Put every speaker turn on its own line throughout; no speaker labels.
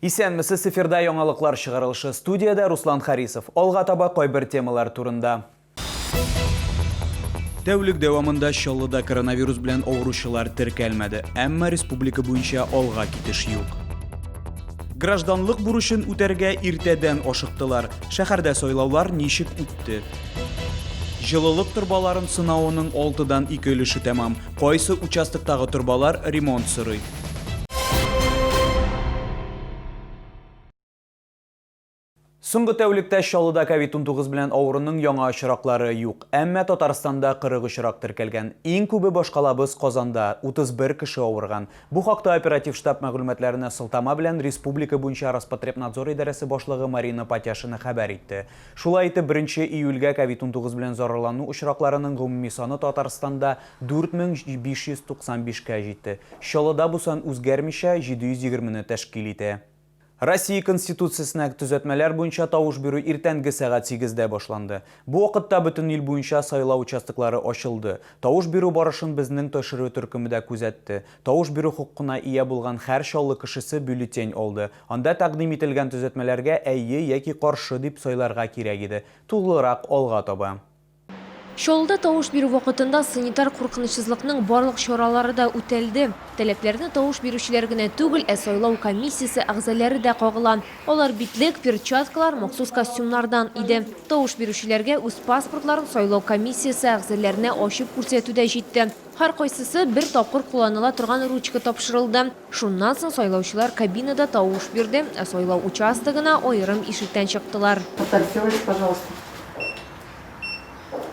Исәнмесез сефирда яңалыклар чыгарылышы студиядә Руслан Харисов. Алга таба кайбер темалар турында. Тәүлек дәвамында Чаллыда коронавирус белән авыручылар теркәлмәде, әмма республика буенча алга китеш юк. Гражданлык бурычын үтәргә иртәдән ашыктылар. Шәһәрдә сайлаулар ничек үтте? Җылылык торбаларын сынауының алтыдан ике өлеше тәмам. Кайсы участоктагы торбалар ремонт сорый? Соңгы тәүлектә Чаллыда COVID-19 белән авыруның яңа очраклары юк. Әмма Татарстанда 40 очрак теркәлгән. Иң күбе башкалабыз Казанда, 31 кеше авырган. Бу хакта оператив штаб мәгълүматларына сылтама белән республика буенча Роспотребнадзор идарәсе башлыгы Марина Патяшина хәбәр итте. Шулай итеп, беренче июльгә ковид-унтугыз белән зарарлану очракларының гомуми саны Татарстанда 4595 кә җитте. Чаллыда бу сан үзгәрмичә, 720 не тәшкил итә. Россия Конституциясенә төзәтмәләр буенча тавыш бирү иртәнге сәгать сигездә башланды. Бу вакытта бөтен ил буенча сайлау участоклары ачылды. Тавыш бирү барышын безнең тшрю төркеме дә күзәтте. Тавыш бирү хокукына ия булган хәр Чаллы кешесе бюллетень алды. Анда тәкъдим ителгән төзәтмәләргә әйе яки каршы дип сайларга кирәк иде. Тулырак алга таба. Чаллыда
тавыш бирү вакытында санитар куркынычсызлыкның барлык чаралары да үтәлде. Таләпләрне тавыш бирүчеләр генә түгел, ә сайлау комиссиясе әгъзаләре дә кагыла. Алар битлек, перчаткалар, махсус костюмнардан иде. Тавыш бирүчеләргә үз паспортларын сайлау комиссиясе әгъзаләренә ачып күрсәтү дә җитте. Һәркайсысы бер тапкыр кулланыла торган ручка тапшырылды. Шуннан соң сайлаучылар кабинада тавыш бирде, ә сайлау участогына аерым ишектән чыктылар. Татарча
говорить, пожалуйста.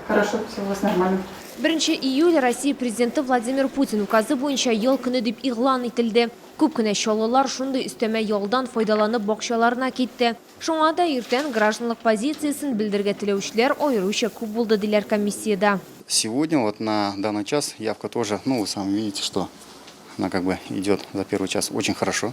Хорошо, все у вас нормально. Беренче июль
Россия Президенты Владимир Путин указы буенча ял көне дип игълан ителде. Күп кенә чаллылар шундый өстәмә ялдан файдаланып бакчаларына китте. Шуңа да иртән гражданлык позициясен белдерергә теләүчеләр аеруча күп булды, диләр комиссиядә. Сегодня вот
на данный час явка тоже, ну вы сами видите, что она как бы идет за первый час очень хорошо.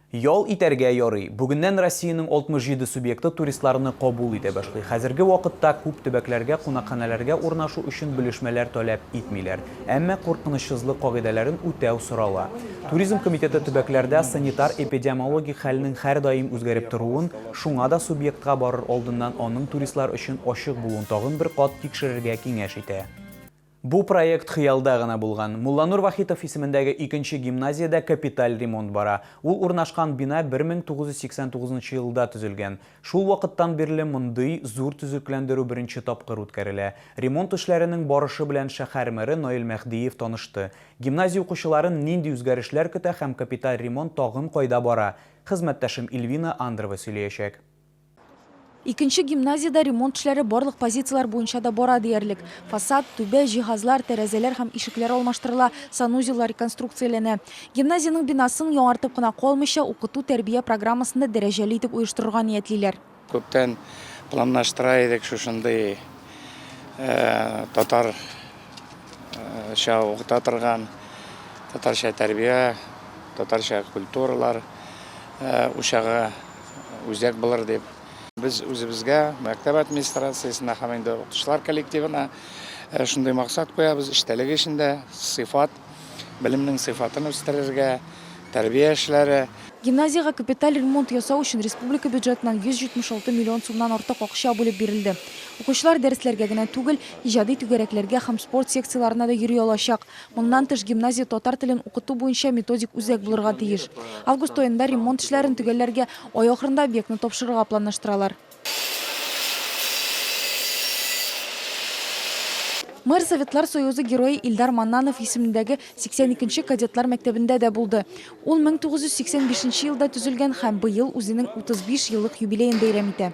Ял итәргә ярый. Бүгеннән Россиянең 67 субъекты туристларны кабул итә башлый. Хәзерге вакытта күп төбәкләргә кунакханәләргә урнашу өчен белешмәләр таләп итмиләр. Әмма куркынычсызлык кагыйдәләрен үтәү сорала. Туризм комитеты төбәкләрдә санитар-эпидиомологик хәлнең һәрдаим үзгәреп торуын, шуңа да субъектка барыр алдыннан аның туристлар өчен ачык булуын тагын бер кат тикшерергә киңәш итә. Бу проект хыялда гына булган. Мулланур Вахитов исемендәге икенче гимназиядә капиталь ремонт бара. Ул урнашкан бина 1989 нчы елда төзелгән. Шул вакыттан бирле мондый зур төзекләндерү беренче тапкыр үткәрелә. Ремонт эшләренең барышы белән шәһәр мэры Наил Мәһдиев танышты. Гимназия укучыларын нинди үзгәрешләр көтә һәм капиталь ремонт тагын кайда бара, хезмәттәшем Ильвина Андрова сөйләячәк.
Икенче гимназиядә ремонт эшләре барлык позицияләр буенча да бара диярлек. Фасад, түбә, җиһазлар, тәрәзәләр һәм ишекләр алмаштырыла, санузеллар реконструкцияләнә. Гимназиянең бинасын яңартып кына калмыйча, укыту-тәрбия программасын да дәрәҗәле итеп оештырырга ниятлиләр. Күптән
планлаштыра идек шушындый татарча укыта торган, татарча тәрбия, татарча культуралар учагы. Үзәк булыр дип. Без үзебезгә, мәктәп администрациясенә һәм инде укытучылар коллективына э, шундый максат куябыз, эчтәлек эчендә сыйфат, белемнең сыйфатын үстерергә, тәрбия эшләре. Гимназиягә капиталь
ремонт ясау өчен республика бюджетыннан 176 миллион сумнан артык акча бүлеп бирелде. Укучылар дәресләргә генә түгел, иҗади түгәрәкләргә һәм спорт секцияләренә дә йөри алачак. Моннан тыш, гимназия татар телен укыту буенча методик үзәк булырга тиеш. Август аенда ремонт эшләрен төгәлләргә, ай ахырында объектны тапшырырга планлаштыралар. Мэр Советлар Союзы Герое Илдар Маннанов исемендәге 82 нче кадетлар мәктәбендә дә булды. Ул 1985 нче елда төзелгән һәм быел үзенең 35 еллык юбилеен бәйрәм итә.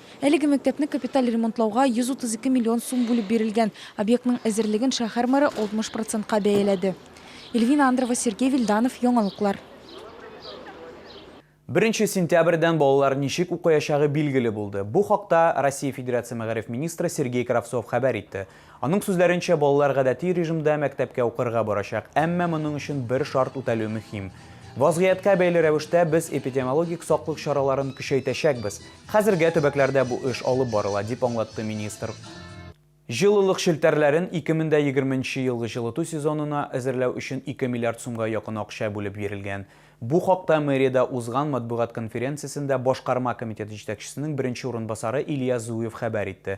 Әлеге мәктәпне
капиталь ремонтлауга 132 миллион сум бүлеп бирелгән. Объектның әзерлеген шәһәр мэры 60 процентка бәяләде. Эльвина Андрова, Сергей Вильданов, Яңалыклар.
Беренче сентябрьдән балалар ничек укыячагы билгеле булды. Бу хакта Россия Федерация мәгариф министры Сергей Кравцов хәбәр итте. Аның сүзләренчә, балалар гадәти режимда мәктәпкә укырга барачак, әмма моның өчен бер шарт үтәлү мөһим. Вазгыятькә бәйле рәвештә без эпидемиологик саклык чараларын көчәйтәчәкбез. Хәзергә төбәкләрдә бу эш алып барыла, дип аңлатты министр. Җылылык челтәрләрен 2020 нче елгы җылыту сезонына әзерләү өчен 2 миллиард сумга якын акча бүлеп бирелгән. Бу хакта мэриядә узган матбугат конференциясендә башкарма комитет җитәкчесенең беренче урынбасары Илья Зуев хәбәр итте.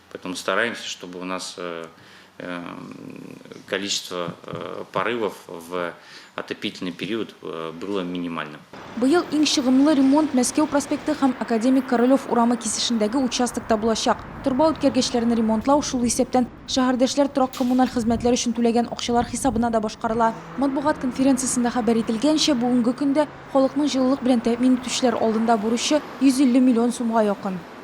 Поэтому стараемся, чтобы у нас э, э, количество э, порывов в отопительный период было минимальным. Быел иң
чыгымлы ремонт Мәскәү проспекты һәм Академик Королев урамы кисешендәге участокта булачак. Торба үткәргечләрен ремонтлау шул исәптән шәһәрдәшләр торак-коммуналь хезмәтләр өчен түләгән акчалар хисабына да башкарыла. Матбугат конференциясендә хәбәр ителгәнчә, бүгенге көндә халыкның җылылык белән тәэмин итүчеләр алдында бурычы 150 миллион сумга якын.